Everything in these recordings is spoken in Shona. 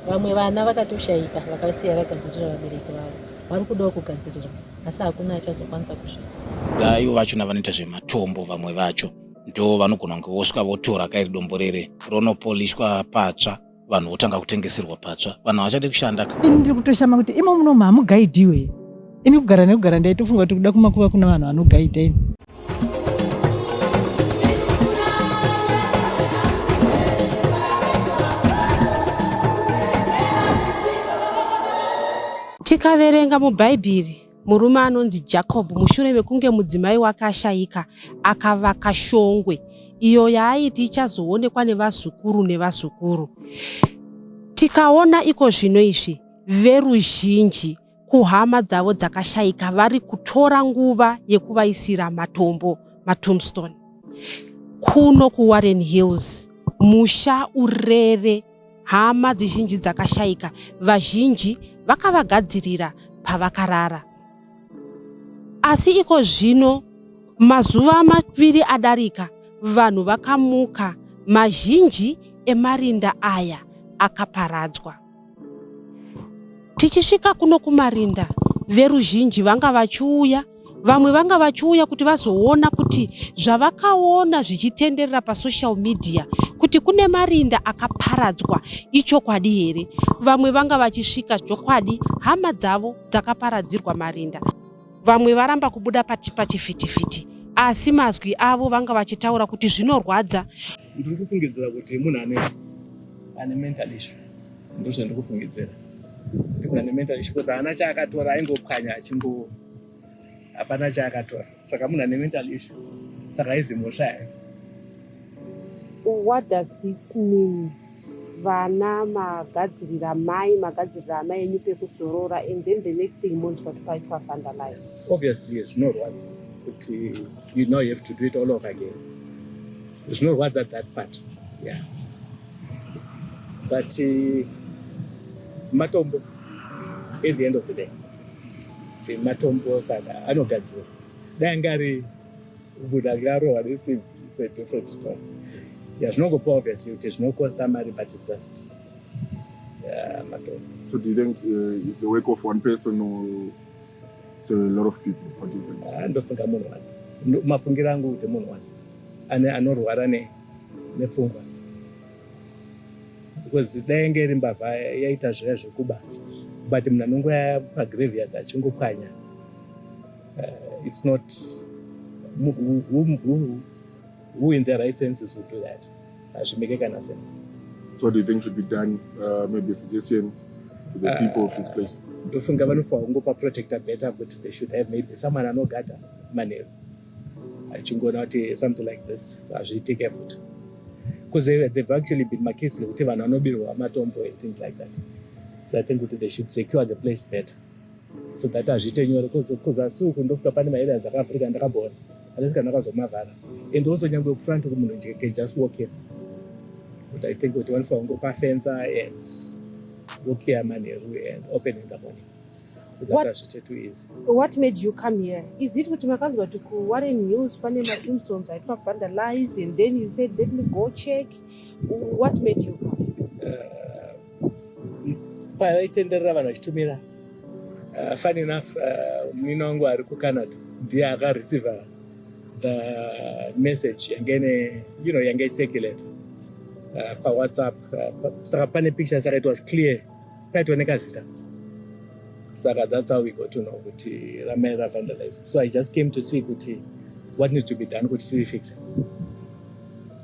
Vamwe vana vakatoshaika vakasiya vagadzirira vabereki vavo vari kudawo kugadzirirwa asi hakuna achazokwanisa kusvika. Ivo vachona vanoita zvematombo vamwe vacho ndo vanogona kunge vosvika votora kairi dombo rere ronopoliswa patsva vanhu votanga kutengeserwa patsva vanhu havachade kushanda ka ini ndiri kutoshama kuti imo munomu hamugaidhiwe ini kugara nekugara ndaitofunga kuti kuda kumakuva kuna vanhu vanogaidha ini Tikaverenga mubhaibheri murume anonzi Jacob mushure mekunge mudzimai wake ashayika akavaka shongwe iyo yaaiti ichazoonekwa nevazukuru nevazukuru. Tikaona iko zvino izvi veruzhinji kuhama dzavo dzakashaika vari kutora nguva yekuvaisira matombo matombstone kuno kuwarren hills musha urere hama dzizhinji dzakashaika vazhinji vakavagadzirira pavakarara asi iko zvino mazuva maviri adarika vanhu vakamuka mazhinji emarinda aya akaparadzwa Tichisvika kuno kumarinda veruzhinji vanga vachiuya vamwe vanga vachiuya kuti vazoona kuti zvavakaona zvichitenderera pasocial media kuti kune marinda akaparadzwa ichokwadi here vamwe vanga vachisvika chokwadi hama dzavo dzakaparadzirwa marinda Vamwe varamba kubuda pati pachifitifiti asi mazwi avo vanga vachitaura kuti zvinorwadza. Ndiri kufungidzira kuti munhu ane ane mental issue ndizvo zvandiri kufungidzira kuti munhu ane mental issue kozi haana chaakatora aingopwanya achingo hapana chaakatora saka munhu ane mental issue saka aizi mhosva yayo. What does this mean? vana magadzirira mai magadzirira amai enyu pekuzorora and then the next thing monzwa kuti paitwa vandalized obviously zvinorwadza kuti you know you have to do it all over again zvinorwadza that part yeah but uh, matombo at the end of the day matombo saka anogadzira dai angari kubuda kirarohwa nesimbi it's a different story yeah zvinogopa obviously kuti zvinokosta mari but it's just yeah matombo so do you think uh, is the work of one person or it's a lot of people what do you think ah, ndofunga munhu one mafungiro angu kuti munhu one ane anorwara ne nepfungwa because dai nge iri mbavha yaita zviya zvekuba but munhu anongoya pagraveyard achingopwanya uh, it's not who, who, who, who in their right senses would do that hazvimeke kana sense so do you think should be done uh, maybe a suggestion to the uh, people of this place ndofunga vanofa kungopa protector better kuti they should have maybe someone anogada manheru achingoona kuti something like this hazviitike futi because they, they've actually been macases ekuti vanhu vanobirwa matombo and things like that so i think kuti they should secure the place better so that hazviite nyore bcause asi uku ndofuta pane maareas akaafrica ndakaboona unless kana akazomavhara and also nyangwe kufront kumunhu nje can just walk in but i think kuti wanofa kungo pafenza and walk here manheru and open in the morning so that hazviite too easy what made you come here is it kuti makanzwa kuti kuware news pane maimsons aitwa vandalize and then you said let me go check what made you come uh, paya vaitenderera vanhu vachitumira uh, fun enough uh, muina wangu ari kucanada ndiye akareceiva the message yange ne you know yange icirculate uh, pawhatsapp uh, saka pane picture saka it was clear paitooneka zita saka that's how we got to know kuti ramai ravandalize so i just came to see kuti what needs to be done kuti tirifixe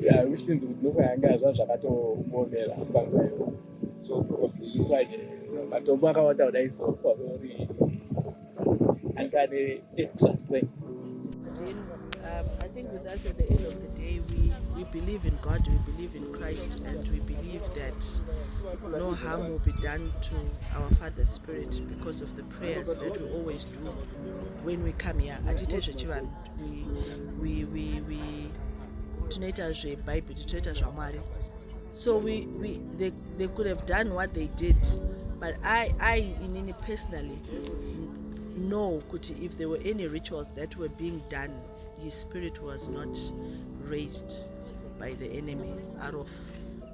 yeah, which means kuti nokwa yanga zva zvakatomuomera panguva iyo so kwaje matombo akawanda kudai so kwauri anga ane extra strength um, I think with us at the end of the day, we, we believe in God, we believe in Christ, and we believe that no harm will be done to our Father's Spirit because of the prayers that we always do when we come here. Atite zvechivanhu. we, we, we, tinoita zvebhaibheri tinoita zvamwari so we, we, they, they could have done what they did but i, I inini personally know kuti if there were any rituals that were being done his spirit was not raised by the enemy out of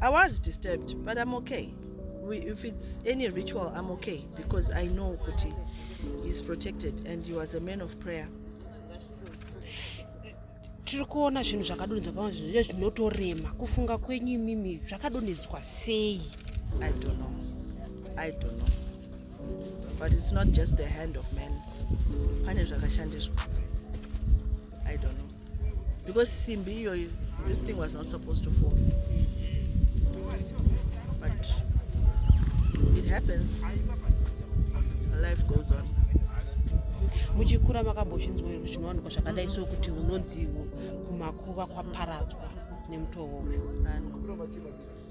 I was disturbed but I'm okay if it's any ritual I'm okay because I know kuti he's protected and he was a man of prayer tiri kuona zvinhu zvakadonhedzwa pamwe zvinhu zvinotorema kufunga kwenyu imimi zvakadonhedzwa sei i don't know i don't know but it's not just the hand of man pane zvakashandiswa i don't know because simbi iyoyo this thing was not supposed to fall but it happens life goes on muchikura makambozvinzwa here zvinowanikwa zvakadai so kuti unonzi kumakuva kwaparadzwa nemutoo uyu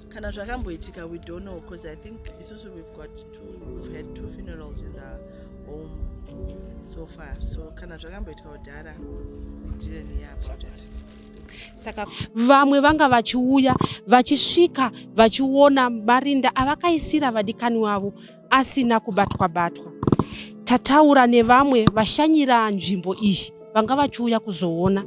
kana zvakamboitika we don't know because i think isusu we've got two we've had two funerals in the home so far so kana zvakamboitika kudhara didn't hear about it saka vamwe vanga vachiuya vachisvika vachiona marinda avakaisira vadikani wavo asina kubatwa batwa. Tataura nevamwe vashanyira nzvimbo iyi vanga vachiuya kuzoona.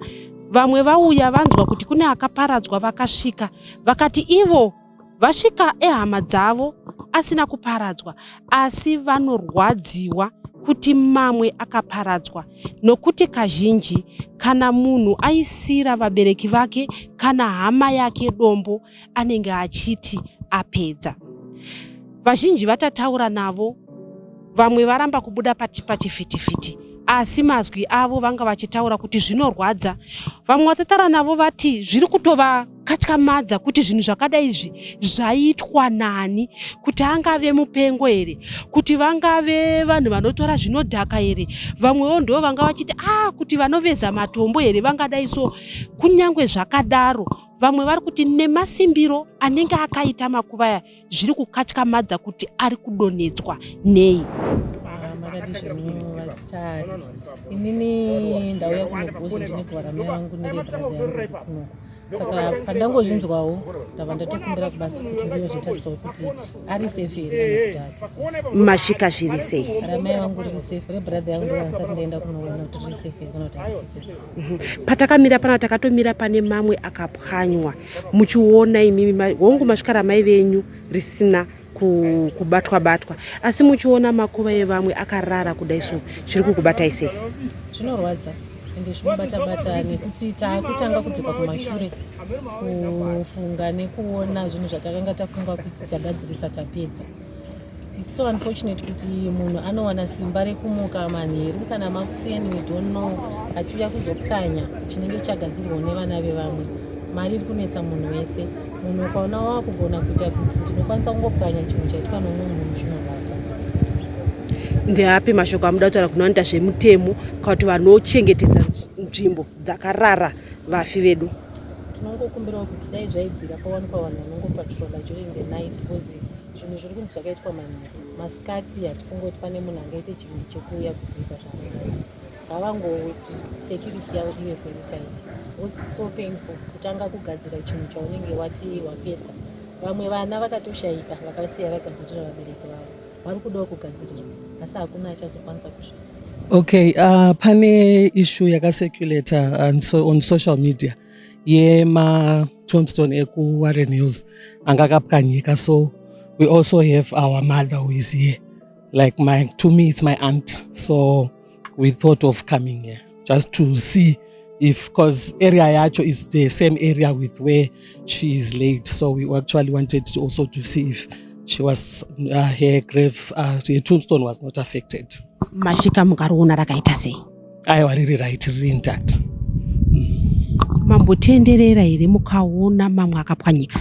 Vamwe vauya vanzwa kuti kune akaparadzwa vakasvika vakati ivo vasvika ehama dzavo asina kuparadzwa asi vanorwadziwa kuti mamwe akaparadzwa nokuti kazhinji kana munhu aisira vabereki vake kana hama yake dombo anenge achiti apedza vazhinji vatataura navo vamwe varamba kubuda pachivhitivhiti asi mazwi avo vanga vachitaura kuti zvinorwadza vamwe vatataura navo vati zviri kutova akatyamadza kuti zvinhu zvakadai izvi zvaitwa nani kuti angave mupengo here kuti vangave vanhu vanotora zvinodhaka here vamwewo ndo vanga vachiti a ah, kuti vanoveza matombo here vangadai so kunyange zvakadaro vamwe vari kuti nemasimbiro anenge akaita makuva aya zviri kukatyamadza kuti ari kudonhedzwa nei inini ndauya kunogosi ndine kuvara mai vangu nevebrotheryangu saka pandangozvinzwawo ndava ndatokumbira kubasa kuti ndiyozotarisawo kuti ari safe here masvika zviri sei ramai vangu riri safe rebrother yangu ndovanisati ndaenda kunoona kuti riri safe here kana kuti ari safe Mhm. patakamira pana takatomira pane mamwe akapwanywa muchiona imimi hongu masvika ramai venyu risina kubatwa batwa asi muchiona makuva evamwe akarara kudai so chiri kukubatai sei zvinorwadza ende zvinobatabata nekuti taakutanga kudzokwa kumashure kufunga nekuona zvinhu zvatakanga tafunga kuti tagadzirisa tapedza It's so unfortunate kuti munhu anowana simba rekumuka manheru kana makuseni we don't know achiuya kuzopwanya chinenge chagadzirwawo nevana vevamwe mari iri kunetsa munhu wese munhu ukaona wava kugona kuita kuti ndinokwanisa kungopwanya chinhu chaitwa nomwe munhu chinorwadza ndeapi mashoko amuda kutaura kuno anoita zvemutemo kakuti vanochengetedza nzvimbo dzakarara vafi vedu tinongokumbirawo kuti dai zvaibvira pawanikwa vanhu vanongopatrola during the night because zvinhu zviri kunzi zvakaitwa manhero masikati hatifunge kuti pane munhu angaite chivindi chekuuya kuzoita zvaangaita ngavangoti security yavo ive very tight whats so painful kutanga kugadzira chinhu chaunenge wati wapedza vamwe vana vakatoshaika vakasiya vagadzirira vabereki vavo vari kudawo kugadzirirwa asi hakuna achazokwanisa kusvika okay uh, pane issue yakaseculator on, so, on social media yema tombstone ekuwarren hills anga akapwanyika so we also have our mother who is here like my to me it's my aunt so we thought of coming here just to see if because area yacho is the same area with where she is laid so we actually wanted to also to see if she was uh, her grave uh, her tombstone was not affected masvika mukariona rakaita sei aiwa riri right riri intact mm. mambotenderera here mukaona mamwe akapwanyika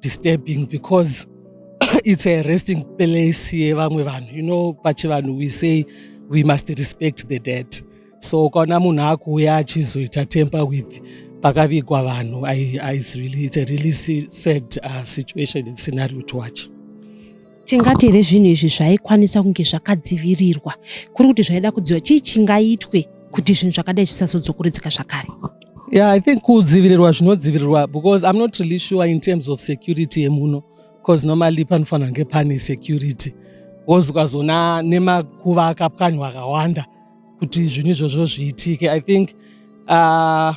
disturbing because it's a resting place yevamwe vanhu you know pachivanhu we say we must respect the dead so ukaona munhu akuuya achizoita temper with pakavigwa vanhu it's really, it's a really sad uh, situation and scenario to watch Tingati here zvinhu izvi zvaikwanisa kunge zvakadzivirirwa kuri kuti zvaida kudziva chii chingaitwe kuti zvinhu zvakadai zvisazodzokoredzeka zvakare? Yeah, I think kudzivirirwa zvinodzivirirwa because I'm not really sure in terms of security yemuno because normally panofanira kunge pane security wozi ukazona nemakuva akapwanywa akawanda kuti zvinhu izvozvo zviitike i think uh,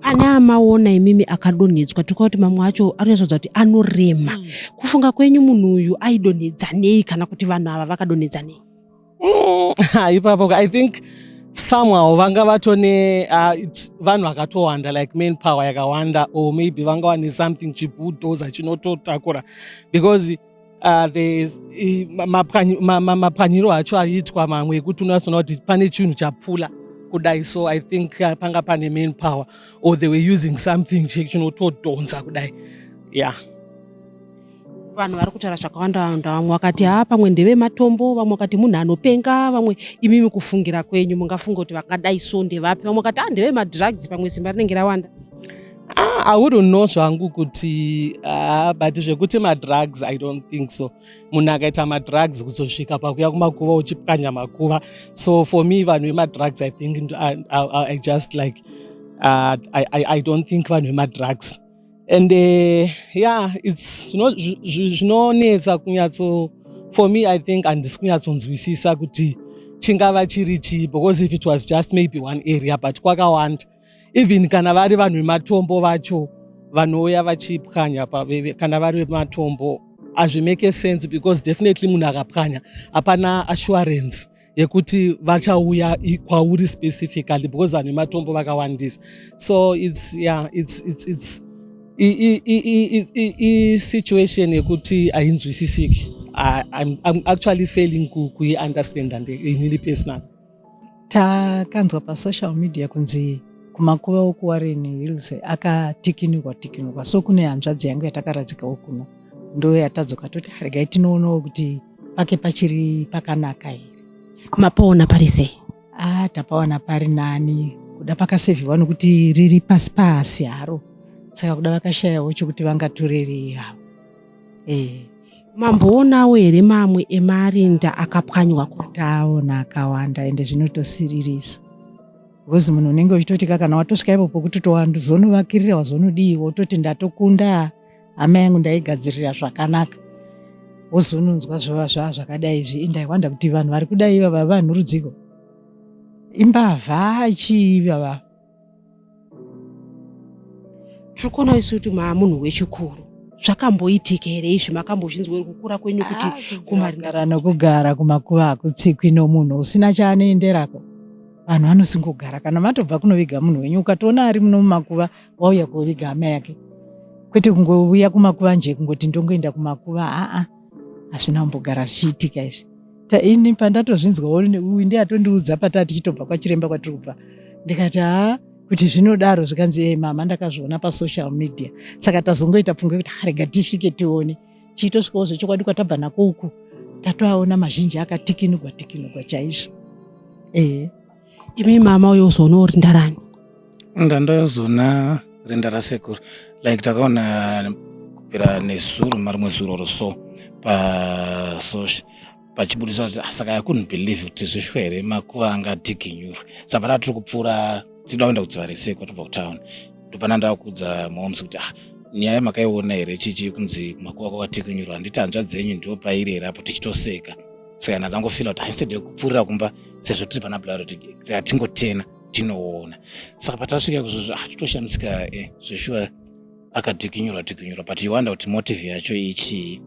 pane amaona imimi akadonhedzwa tikuva kuti mamwe acho anozodza kuti anorema mm. kufunga kwenyu munhu uyu aidonhedzanei kana kuti vanhu ava vakadonhedzanei mm, ipapo i think somehow vanga vatone uh, vanhu vakatowanda like main power yakawanda or maybe vanga wane something chibudoza chinototakura because Uh, the, mapwanyiro acho aiitwa mamwe ekuti unoona kuti pane chinhu chapfula kudai so i think uh, panga pane main power or they were using something chinotodhonza kudai yeah vanhu vari kutaura zvakawanda wanda vamwe vakati haa pamwe ndeve matombo vamwe vakati munhu anopenga vamwe imimi kufungira kwenyu mungafunga kuti vakadai so ndevapi vamwe vakati haa ah, ndeve madrugs pamwe simba rinenge rawanda Ah, I wouldn't know zvangu kuti ah, but zvekuti madrugs I don't think so. Munhu akaita madrugs kuzosvika pakuya kumakuva uchipwanya makuva. So for me vanhu vemadrugs I think I, I, I just like uh, I, I, I don't think vanhu vemadrugs. And uh, yeah, it's zvinonetsa kunyatso for me I think handisi kunyatsonzwisisa kuti chingava chiri chii because if it was just maybe one area but kwakawanda even kana vari vanhu vematombo vacho vanouya vachipwanya kana vari vematombo hazvimake sense because definitely munhu akapwanya hapana assurance yekuti vachauya kwauri specifically because vanhu vematombo vakawandisa so its yeah, its, its, its, isituation yekuti hainzwisisiki I'm, I'm actually failing kuiunderstanda inini personally takanzwa pasocial media kunzi kumakuva okuwarren hills akatikinurwa tikinurwa so kune hanzvadzi yangu yatakaradzikawo kuno ndo yatadzoka toti haregai tinoonawo kuti pake pachiri pakanaka here mapoona pari sei ah tapaona pari nani kuda pakasevhiwa nokuti riri pasi pasi haro saka kuda vakashayawo chokuti vangatorerei havo Eh, mamboonawo here mamwe emarinda akapwanywa ko taona akawanda ende zvinotosiririsa because munhu unenge uchitoti ka kana watosvika ipo pokuti towanzonovakirira wazonodii wototi ndatokunda hama yangu ndaigadzirira zvakanaka wozononzwa zvova zvava zvakadai izvi ende i wonder kuti vanhu vari kudai ivava vanhurudziko imbavha chii ivava tiri kuona isu kuti maamunhu wechikuru zvakamboitika here izvi makambozvinzwa uri kukura kwenyu kuti ah, kumarindara nokugara kumakuva hakutsikwi nomunhu usina chaanoenderako vanhu vanosingogara kana matobva kunoviga munhu wenyu ukatoona ari muno mumakuva wauya kuoviga hama yake kwete kungouya kumakuva nje kungoti ndongoenda kumakuva aa ah, ah. hazvina kumbogara zvichiitika izvi ini pandatozvinzwa uyu ndiye atondiudza pataa tichitobva kwachiremba kwatiri kubva ndikati haa kuti zvinodaro zvikanzi e mama ndakazviona pasocial media saka tazongoita pfungwa yekuti harega tisvike tione chiitosvikawo zvechokwadi kwatabva nako uku tatoaona mazhinji akatikinugwa tikinugwa chaizvo ehe imi mama uyo uzoona uri ndarani ndandazoona rinda rasekuru like takaona kupera nezuro marimwe zuro ro so paso pachibudisa kuti ah, saka i couldn't believe kuti zvishwa here makuva anga adiginyurwe saka panaa tiri kupfuura tichida kuenda kudziva resekwa tobva kutown ndopana ndakudza moms kuti ah nyaya makaiona here chichi kunzi makuva kwakatikinyurwa handiti hanzva dzenyu ndo pairi here apo tichitoseka saka ndatangofila kuti haisede kupfuurira kumba sezvo tiri pana bulauro tingotena tinoona saka patasvika kuzvozvo ah, titoshamisika eh, zveshuwa akadhikinyurwa dhikinyurwa but you wonder kuti motive yacho ichii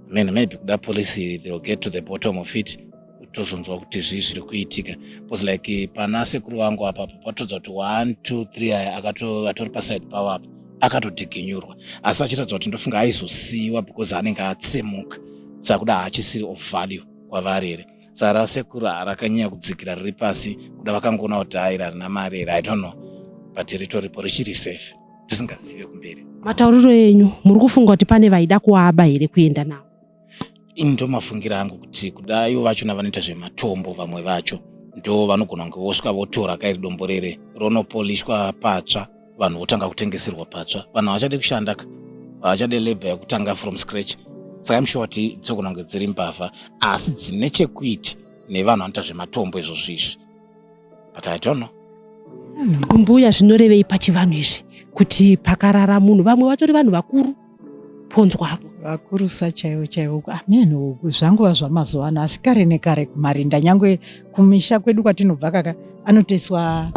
man maybe kuda policy they will get to the bottom of it tozonzwa kuti zvii zviri kuitika bcause like pana sekuru vangu apapo patodza kuti one two three aya akatori paside pavo apa akatodhiginyurwa asi achiratidza kuti ndofunga aizosiyiwa because anenge atsemuka saka kuda haachisiri of value kwavari here zara rasekuru harakanyanya kudzikira riri pasi kuda vakangoona kuti hairi harina mari here i don't know but ritoripo richiri safe tisingazive kumberi matauriro enyu muri kufunga kuti pane vaida kuaba here kuenda navo ini ndomafungira angu kuti kuda ivo vachona vanoita zvematombo vamwe vacho ndo vanogona kunge vosvika votora kairi dombo rere ronopolishwa patsva vanhu votanga kutengeserwa patsva vanhu havachade kushanda ka havachade labor yekutanga from scratch saka imshuwa kuti dzogona kunge dziri mbavha asi dzine chekuiti nevanhu vanoita zvematombo izvo zviizvi but i don't know mbuya zvinorevei pachivanhu izvi kuti pakarara munhu vamwe vatori vanhu vakuru ponzwa vakurusa chaivo chaivo amen uku zvanguva zvamazuva ano asi kare nekare kumarinda nyangwe kumisha kwedu kwatinobva kaka anotoiswa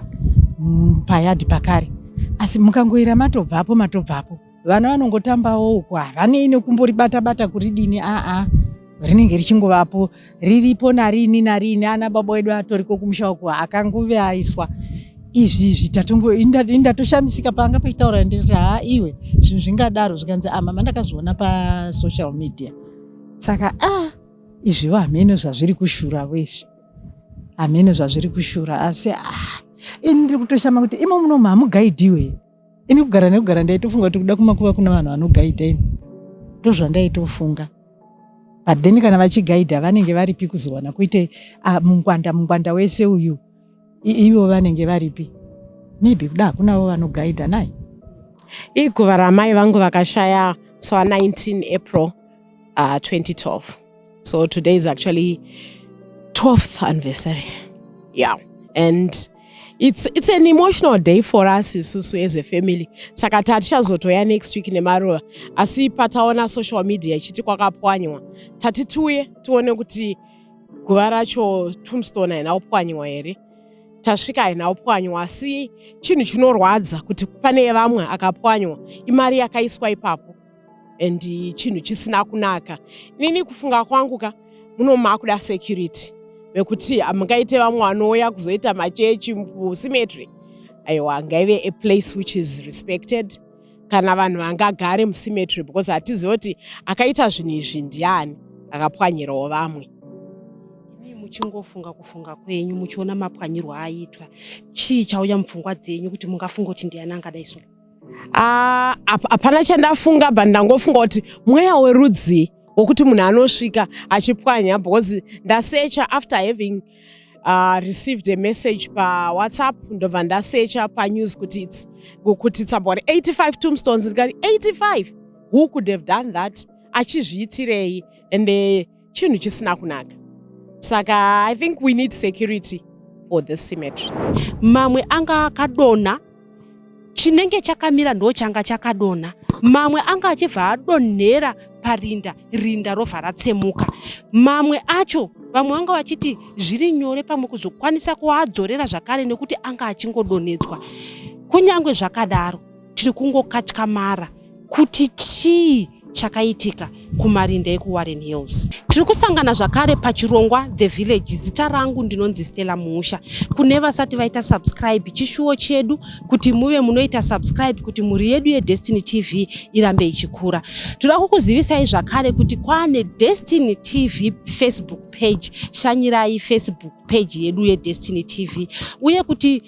mm, payadhi pakare asi mukangoira matobvapo matobvapo vana vanongotambawo uku havanei nekumboribata bata kuridini aa ah, ah. rinenge richingovapo riripo narini narini ana baba wedu atoriko kumusha uku akangove aiswa izvi zvitatongo indatoshamisika panga paitaura ndikati haa iwe zvinhu zvingadaro zvikanzi ama ah, mandakazviona pasocial media saka a ah, izvivo hameno zvazviri kushura wezvi hameno zvazviri kushura asi a ah, ini ndiri kutoshama kuti imo munomu hamugaidhiwe ini kugara nekugara ndaitofunga kuti kuda kumakuva kuna vanhu vanogaidha ini ndozvandaitofunga but then kana vachigaidha vanenge varipi kuzowana kuite ah, mungwanda mungwanda wese uyu ivo vanenge varipi maybe kuda hakunavo vanogaidha nai iguva ramai vangu vakashaya so 19 april uh, ah, 2012 so today is actually 12th anniversary yeah and it's, it's an emotional day for us isusu as a family saka tatichazotoya next week nemaruva asi pataona social media ichiti kwakapwanywa tati tiuye tione kuti guva racho tombstone haina kupwanywa here tasvika haina kupwanywa asi chinhu chinorwadza kuti pane vamwe akapwanywa imari yakaiswa ipapo and chinhu chisina kunaka inini kufunga kwangu ka muno makuda security vekuti hamungaite vamwe vanouya kuzoita machechi musimetry aiwa ngaive a place which is respected kana vanhu vangagare musimetry because hatizive kuti akaita zvinhu izvi ndiani akapwanyirawo vamwe muchingofunga kufunga kwenyu muchiona mapwanyirwo aitwa chii chauya mupfungwa dzenyu kuti mungafunga kuti ndiani angadai so Ah, hapana chandafunga but ndangofunga kuti mweya werudzii wokuti munhu anosvika achipwanya because ndasecha after having uh, received a message pawhatsapp ndobva ndasecha panews kuti its kuti its about 85 tombstones ndikati 85 who could have done that achizviitirei and uh, chinhu chisina kunaka saka i think we need security for this cemetery mamwe anga akadonha chinenge chakamira ndo changa chakadonha mamwe anga achibva adonhera parinda rinda robva ratsemuka mamwe acho vamwe vanga vachiti zviri nyore pamwe kuzokwanisa kuadzorera zvakare nekuti anga achingodonhedzwa kunyange zvakadaro tiri kungokatyamara kuti chii chakaitika kumarinda ekuwarren hills tiri kusangana zvakare pachirongwa the village zita rangu ndinonzi stella muusha kune vasati vaita subscribe chishuwo chedu kuti muve munoita subscribe kuti mhuri yedu yedestiny tv irambe ichikura toda kukuzivisai zvakare kuti kwane destiny tv facebook page shanyirai facebook page yedu yedestiny tv uye kuti